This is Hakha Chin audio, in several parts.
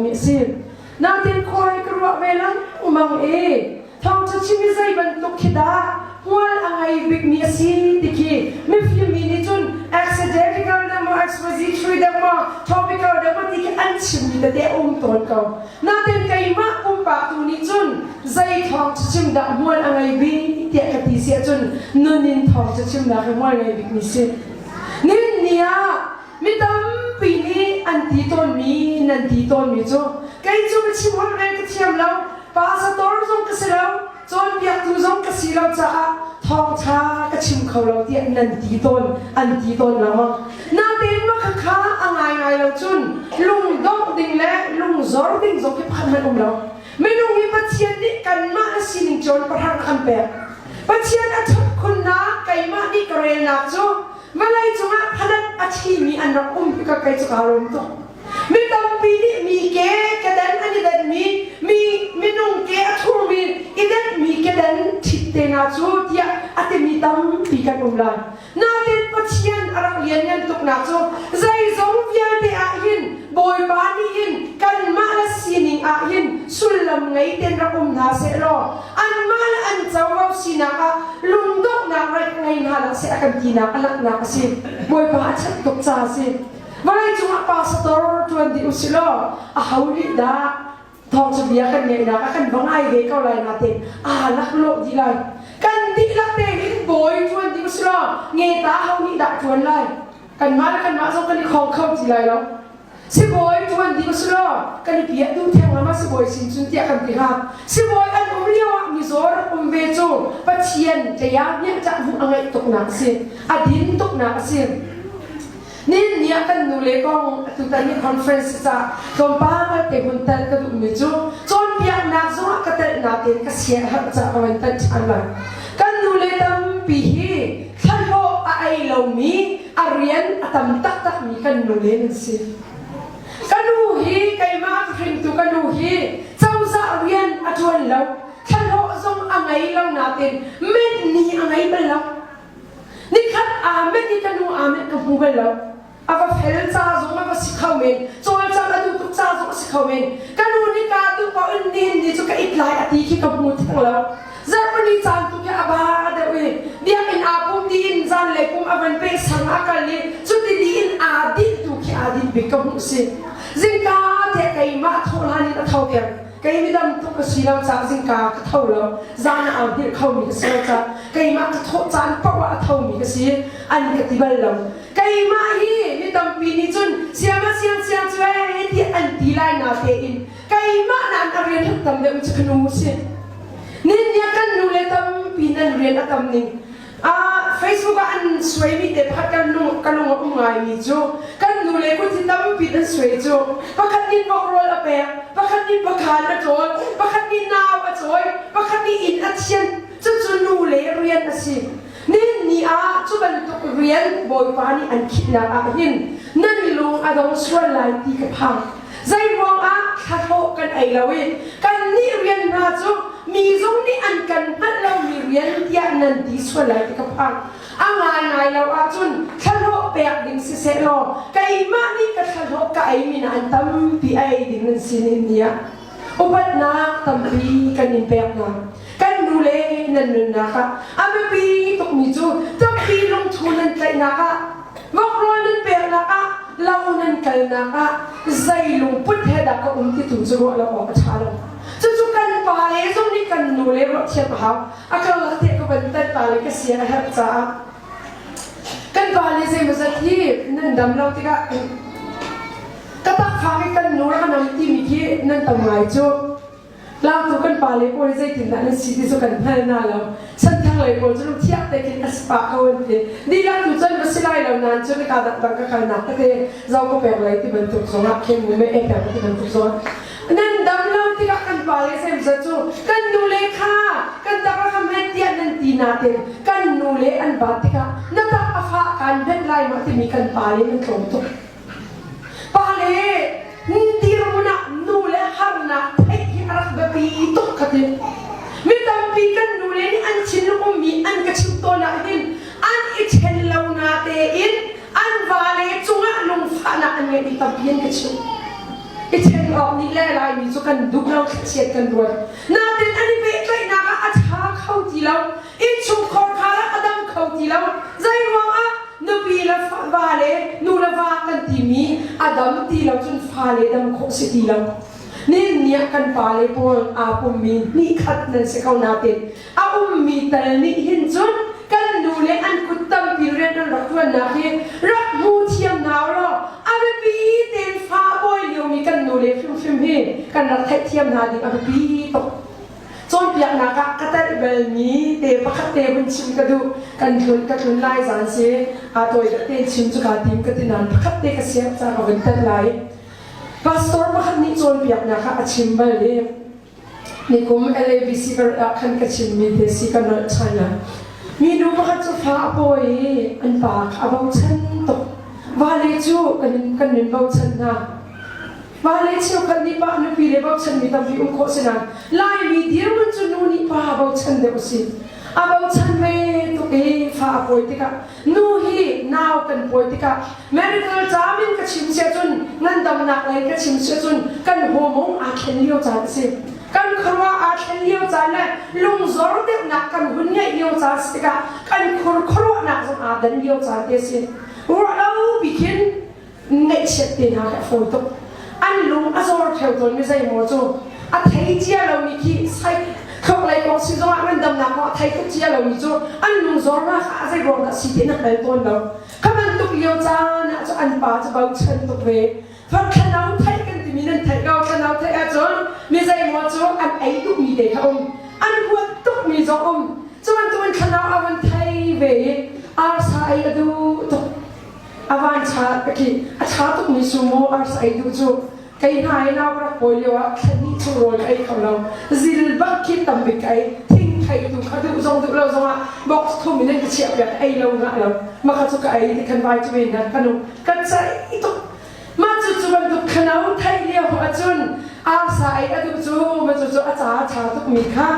mi a si. Natin khuai ka ruah ve lang umang e thawngtha chim i zei bantuk khi dah hmual a ngei bikmi a si ti khi mifim mi nih cun accidentical dang maw expository dang maw topical dang maw ti khi an chimmi tete a um tawn ko natin keimah pumpak tu nih cun zei thawngtha chim dah hmual a ngei bi tiah ka ti si ahcun nun in thawngtha chim dah hi hmual ngei bikmi si nin ni ah Mi tampi nih an ti tawnmi nan ti tawnmi cu kei cu ka chim holh ve ka thiam lo pasator zong ka si lo cawnpiaktu zong ka si lo caah thawngṭha ka chim kho lo tiah nan ti tawn an ti tawn lengmang natein mah khakha a ngaingai lo cun lungdongh ding le lungzor ding zong hi pakhat hmanh um lo minung hi pathian nih kanmah sining cawn pahrang an pek pathian a ṭhat khunnak keimah nih ka relnak cu Vawlei cungah phadat a thimi an rak um ka kei cu kaa lawm tuk. Mi tampi nih mi ke kedan an i denmi, mi minung ke a thurmi i denmi kedan thitte hna cu tiah a timi tampi kan um lai. Natin Pathian a rak lianngan tuk na cu zeizong vialte ahhin Bawipa nih hin kanmah le sining ahhin sullam ngei ten rak um hna sehlaw an mal an covo sinak ah lungdonghnak raih ngei hna lo seh a kan tinak a langhnak a si. Bawipa a chat tuk ca a si. Vawleicung ah pastor tuan dih usih law a ho nih dah thawngthabia kan ngaihnak a kan bang ai ve ko lai natin aa laklawh dih lai. Kan dihlak tein bawi tuan dih usih law nge ta ho nih dah tuan lai. Kanmah le kanmah zong kan i khong kho ti lai lo. Sibawi ṭuan ding a si lo, kan i piahtu thenglam ah sibawi sin cun tiah kan ti hlah. Sibawi an um lio ah mizawr um ve cu Pathian hlei ah hnemhcah hmuh a ngeih tuknak a si, a din tuknak a si. Nihin ni ah kan nule kong atutan ni conference cah tlawmpal ngalte hun tel ka duhmi cu cawnpiaknak zong ah ka telhnak in ka siaherh cah ka van thanh ṭhan lai. Kan nule tampi hi thlalawh a ei lomi a rian a tam taktakmi kan nule nan si. Ka nu hi keimah an hringtu ka nu hi cozah rian a ṭuan lo. Thlahlawh zong a ngei lo nain met ni a ngei bal lo. Nikhat aa met i ka nu aa met ka hmu bal lo. A va fel ca zong a va si kho men. Cawlcang a tu tuk ca zong a si kho men. Ka nu nih ka tu pa un ni ni cu ka it lai a ti khi ka hmu theng lo. Germany caan tu a ba deuh i biakinn aa pum tiin zan le kum a van peh sang a kal i cuti tiin aa dinh tu khi aa dinh bik ka hmuh si. Zingka te keimah thawhlan in a tho peng. Kei midam tuk a si lo cah zingka ka tho lo. Zan a au hngilh kho mi ka si lo cah keimah ka thawh caan paoh ah a tho mi ka si. An ka ti bal lo. Keimah hi mi tampi nih cun siama siang siang cu ee tiah an ti lai na tein keimah nan ka rian hruk tam deuh cu kanu si nin ya kan nu le tampi nan rian a tam ning ah facebook ah an suai mi te pakhat kan lung ka lung a um ngai mi cu kan nu le ku ti tampi nan suai cu pakhat nin bokrol a pek pakhat nin pakhan a ṭawl pakhat nin nau a chawi pakhat nih inn a thian cucu nu le rian a si Nihin ni ah cu bantuk rian Bawipa nih an khihnak ah hin nan i lung a dong sual lai ti ka phang. Zeiruangah thlahlawh kan ei lo i kannih rian hna cu mi zong nih an kan hngalh lomi rian tiah nan ti sual lai ti ka phang. A ngaingai lo ahcun thlahlawh pek ding sisehlaw keimah nih ka thlahlawh ka ei min an tampi a ei ding an si nihin ni ah. Upatnak tampi kan in pek hna. kan nu le nan nunnak ah a biapi tukmi cu tampi lungthu nan tlaihnak ah ngokrawl nan peknak ah lo nan kalnak ah zei lungput he dah ka um titu cu ruah lo awk a ṭha lo cucu kan pa le zong nih kan nu le ruah thiam a hau a karlah te ka van tat ta le ka sia a herh caah kan pa le zeimawzat hi nan dam lo tikah ka takfang i kan nu rak nam timi khi nan tam ngai cu Tlangtu kan pale pawl zeitindah nan si ti cu kan hngal na lo. Chan thlanglei pawl cu lungthiah tein a si pah ko an ti. Dihlak tu cun va si lai lo nain nika dangdang ka kalnak tete zo ka pek lai ti bantuk zongah khemu me e pek ti bantuk zong. Nan damlo tikah kan pale semza cu kan nule kha kan taka ka hmet tiah nan ti nain kan nule an bat tikah na tak a fah kaan hmet lai ma timi kan pale an tlawm tuk. Pale, dirmun ah nu le harnak theih hi a rak biapi tuk ka ti. Mi tampi kan nu le nih an thinlung mi an ka chim tawn ahhin an i ṭhen lo na tein an vale cungah lungfahnak an ngeih mi tampi an ka chim. I ṭhen awk nih le Laimi cu kan duh lo, thlachiat kan ruat. Natin an i pehtlaihnak ah a ṭha kho ti lo. Innchungkhar kha a dang kho ti lo. Zeiruangah nupi le va le nu le va kan timi a dam ti lo cun fale dam khawh si ti lo. Nih nih kan pale pawl aa pummi hnihkhat nan si ko nain a ummi tal nih hin cun kan nu le an kut tampi rian an rak ṭuannak hi rak hmu thiam hna law a biapi tein fa a bawi liomi kan nu le hrimhrim hi kan rak theihthiam hna ding a biapi tuk. Cawnpiaknak ah ka tanh belmi te pakhat te hun chim ka duh. Kan tlun ka tlun lai zan si aa tawi te chim cu ka tim ka ti nain pakhat te ka siang ca ka vun tanh lai. Pastor pakhat nih cawnpiaknak ah a chim bal i nikum LABC ka ah khan ka chimmi te si ka nolh ṭhan ah minu pakhat cu fa a pawi i an pa a bochan tuk. Vale cu kan in kan min bochan hna. Mah le cheukhat nih mah nupi le bochanmi tampi um khawh si nain Laimi dirhmun cu nu nih pa bochan deuh a si. A bochan ve tuk i fa a pawi tikah nu hi nau kan pawi tikah medical caam in ka chim sia cun ngandamnak lei ka chim sia cun kan hormone aa thlen lio caan a si. Kan khuaruah aa thlen lio caan le lungzor deuhnak kan hun ngeih lio caan si tikah kan khur khuaruahnak zong aa dan lio caan te a si. Ruah lo bik in ngaihchiat te hna kha a fawi tuk an lung a zawr theo tawnmi zeimaw cu a thei cia lomi khi thluaklei kong si zongah ngandamnak kong a thei tuk cia lomi cu an lung zawrnak ah a zei ruang dah si ti na hngal tawn lo ka bantuk lio caan ah cu an pa cu bochan tuk ve Far thlanau theih kan timi nan theih ko thlanau theih ahcun mi zeimaw cu an ei duhmi te kha um an huat tukmi zong um cuman tuan thlanau a van thei ve i arsa ei a duh tuk a van cha ka ti a cha tukmi sumo ars ai duh cu kei hna i nau rak pawi lio ah thlenni chung rawl ka ei kho lo zil bak khi tambik ai thing thai tu kha duh zong duh lo zong ah box thum in ka chiah piak ei lo ngah lo maka cu ka ei ni kan vai tu in kan nu kan sai tuk Mah cu cu bantuk thalo theih lio ahcun arsa ei a duh cu ma cucu a ca a ṭha tukmi kha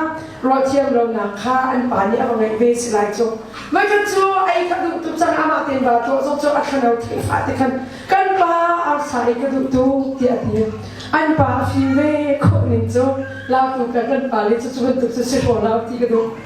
rualthiam ronak kha an pa nih a va ngeih ve si lai cu. Voikhat cu ei ka duh tuk cang amah tein vaa tlawh zong cu a thalo theih fah ti khan kan pa arsa ei ka duh tuk tiah a ti. An pa a fim ve khawh ning cu lautu kan pale cu cu bantuk cu si ko lau ti ka duh.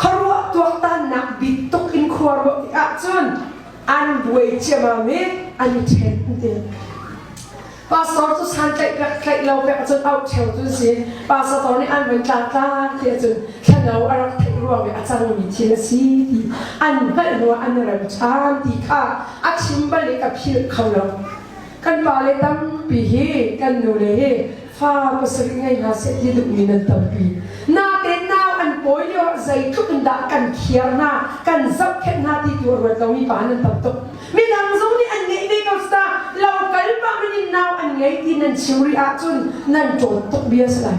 Khuaruah tuaktannak bik tuk in khua ruah ti ahcun an buai ciamam i an i ṭhen ti. Pastor cu san tlaih pek tlaih lo pek ahcun auh theo cun si pastor tor nih an van tla tla ti ahcun thlanau a rak theih ruang i a cangmi thil a si ti an hngalh ruah an rem ṭhan ti kha a chim bal i ka philh kho lo. kan pale tampi hi kan nule hi fa pasarih ngei hna seh ti duhmi nan tampi natein nau an pawi lio ah zeitluk in dah kan khiar hna kan zapkhet hna ti tu a ruat lomi pa nan tam tuk midang zong nih an ngeih ve ko sta lo kal pah in in nau an ngei ti nan chim rih ahcun nan ṭawt tuk bia si lai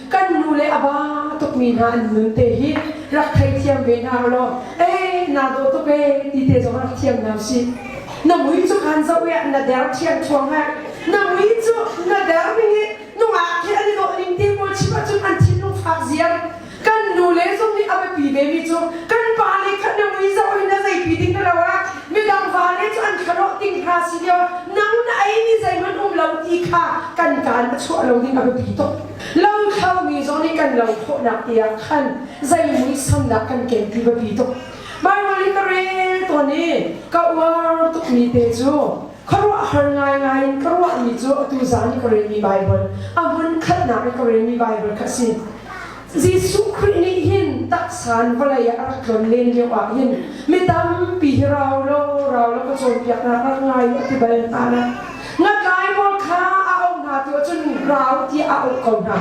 kan nu le a ba tukmi hna an nun te hi rak theithiam ve hna law eh na daw tuk eh ti te zong rak thiam hna si na mui cu khan zoh ya na der thian chuang hai na mui cu na der mi hi nungak khi an i dawh ning te pawl chip ahcun an thinlung fak ziam kan nu le zong nih a biapi ve mi cu kan pa le khan na mui zoh in na zeipi ding na lo ah midang va le cu an kharawh ding hna si lio nang na ei ni zeihmanh um lo ti kha kan kaan a chuah lo ding a biapi tuk Langthaumi zong nih kan lo khawhnak te ah khan zei muisamnak kan ken ti biapi tuk. Baibal i ka rel tawn i ka uar tukmi te cu khuaruahhar ngaingai in ka ruahmi cu atu zan i ka relmi Baibal, a hmunkhatnak i ka relmi Baibal kha a si. Jesuh Khrih nih hin taksa in vawlei ah a rak tlon len lio ah hin mi tampi hi rau law rau law ka cawnpiak nak rak ngai a ti bal hna lai. Ngatlai pawl kha a auh hna ti ahcun rau tiah a auh ko hna.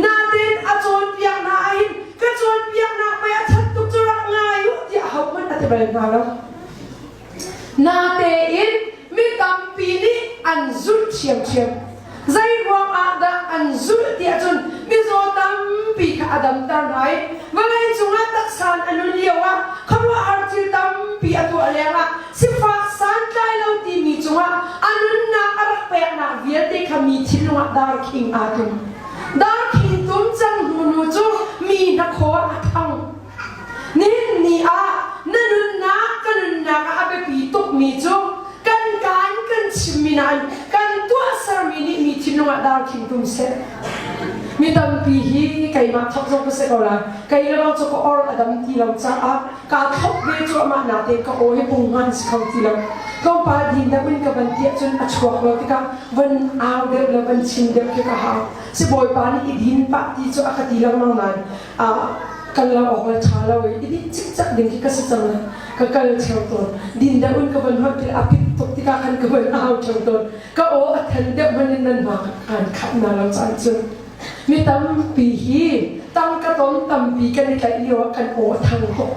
Natein a cawnpiak hna ahhin ka cawnpiaknak mei a that tuk cu rak ngai u tiah hohmanh a ti bal hna lo. Natein mi tampi nih an zulh ṭhiamṭhiam. Zei ruang ah dah an zulh ti ahcun mizaw tampi kha a damter hna i vawlei cungah taksa in a nun lioah khuaruahhar thil tampi a tuah lengah Sifah santlai lo timi cungah a nunnak a rak peknak vialte kha mi thinlungah darkhing aa tlum. Darkhing tlum cang hnu nu cu mi hnakhaw a thang. Nihin ni ah na nunnak ka nunnak ah a biapi tukmi cu kan kaa in kan chimmi nain kan tuahsermi nih mi thinlungah darkhing tlum seh. Mi tampi hi keimah thok zong ka si ko lai. Kei le bang cu ka or a dam ti lo caah kaa thlop ve cuahmah na te ka aw hi pung hman si kho ti lo tlawmpal din deuh in ka van tiah cun a chuak lo tikah van au deuh le van chin deuh khi ka hau sibawipa nih i din pah ti cu a ka ti lengmang nain kal lo awkal ṭha lo i din cikcak ding khi ka si cang ka kal theo tawn din deuh in ka van huat i a pit tuk tikah khan ka van au theo tawn ka aw a than deuh hman in nan va aan khat na lo caan cun Mi tampi hi tangka ton tampi kan i tlaih lio ah kan aw thang ko.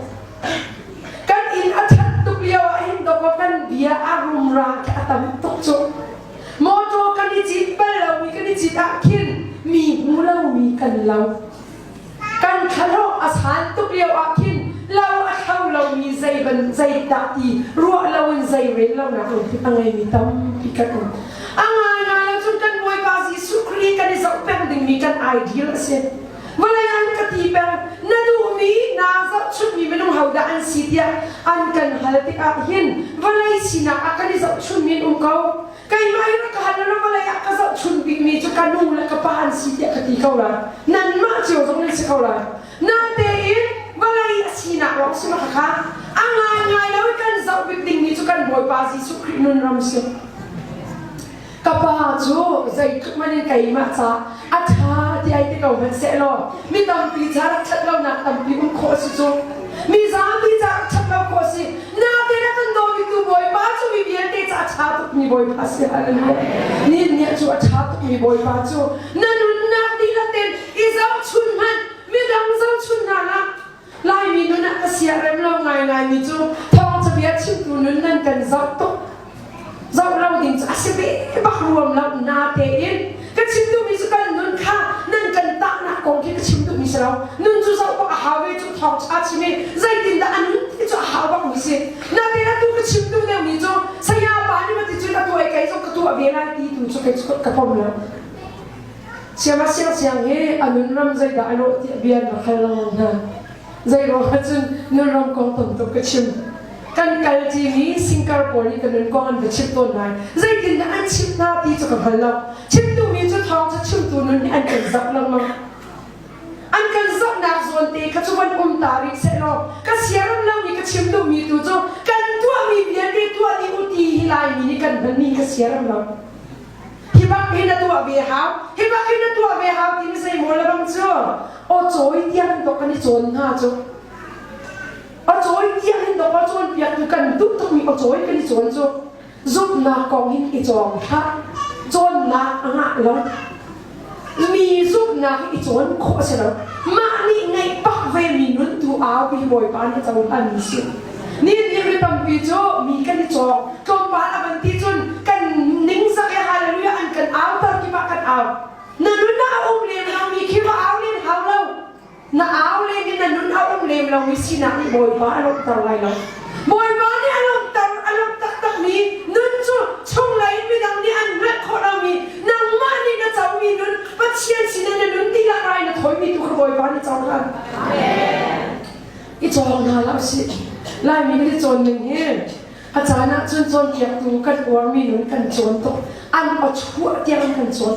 Kan inn a that tuk lio ah hin doko kan bia a rumra khi a tam tuk cu. Motor kan i cit bal lo mi kan i cit ah khin mi hmu lo mi kan lo. Kan thlaruk a san tuk lioah khin lo a thlo lomi zeiban zeidah i ruah loin zei rellonak lungput a ngeimi tampi kan um. A ngaingai ahcun kan Bawipa Jesuh Khrih kan i zoh peng dingmi kan ideal a si. Vawlei an ka ti peng, na duhmi, naa zohchunhmi minung hodah an si tiah an kan hal tikah hin vawlei sinak ah kan i zohchunhmi an um ko. Keimah i rakahan le vawlei ah ka zohchunh bikmi cu ka nu le ka pa an si tiah ka ti ko lai. Nanmah cio zong nan si ko lai. Natein vawlei a sinak lawng si maw khakha, a ngaingai lo i kan zoh bik dingmi cu kan Bawipa Jesuh Khrih nun ram si. Ka pa cu zeitluk man in keimah ca a ṭha tiai te ko hmanhsehlaw mi tampi ca rak ṭhat lonak tampi um khawh a si cu mi zapi ca rak ṭhat lo khawh a si nate na kan dawmitu bawipa cu mi vialte ca a ṭha tukmi bawipa si hallelujah ni nih cu a ṭha tukmi bawipa cu na nunnak dihlak ten i zohchun hmanh midang zohchun hna la Laimi nun ah ka siah rem lo ngaingaimi cu thawngchabia chimtu nun nan kan zoh tuk. Zoh lo ding cu a si ve bak ruam lo na tein. Ka chim duhmi cu kan nun kha nan kan tahnak kong khi ka chim duhmi si lo. Nun cu zoh bak a hau i cu thawngṭha chim i zeitindah a nun ti cu a hau bakmi si. Na tein atu ka chim duh deuhmi cu saya pa nih va ti cun a tuah i kei zong ka tuah ve lai ti tu cu ka pom lo. Siama siangsiang hi a nunram zeidah a rawh tiah bia na hal lengmang hna. Zeiruangah cun nunram kong tam tuk ka chim. Kan kal timi singkar pawl nih ka nun kong an va chim tawn lai. Zeitindah an chimh hna ti cu ka hngal lo. Chimtumi cu thawng cu chimtu nun hi an kan zak lengmang. An kan zohnak zawn te kha cu van um ta rih sehlaw, ka siaram lomi ka chimtuhmi tu cu kan tuahmi vialte tuah dih u ti hi Laimi nih kan hmanmi hi ka siaram lo. Hi bak hi na tuah ve hau, hi bak hi na tuah ve hau ti na sei maw lebang cu, o cawi tiang in dok kan i cawn hna cu. O cawi tiang in dok o cawn piak tu kan duh tuk mi o cawi kan i cawn cu. Zumnak kong hin i cawng hlah, cawnnak a ngah lo. Mi zumhnak i cawn khawh a si lo. Mah nih ngeih bak vemi nun tu aupi Bawipa nih cohlan a si. Nihin ni tampi cu mi kan i cawng. Tlawmpal a van ti cun kan ningzak i hallelujah an kan auter kip ah kan au. Na nun ah a um len hangmi khi va au len hau lo. Na au leng in na nun a um lem lomi sinak nih Bawipa a lawmhter lai lo. Bawipa nih a lawmhter, a lawmh taktakmi nun cu chunglei midang nih an hngalh khawh lomi, nangmah nih na comi nun, Pathian sinah na nun tikah rai na thawimi tu kha Bawipa nih cohlan. I cawng hna hlah usih. Laimi kan i cawn ning hi a caan ahcun cawnpiaktu kan uarmi nun kan cawn tuk. An aw chuah tiang kan cawn.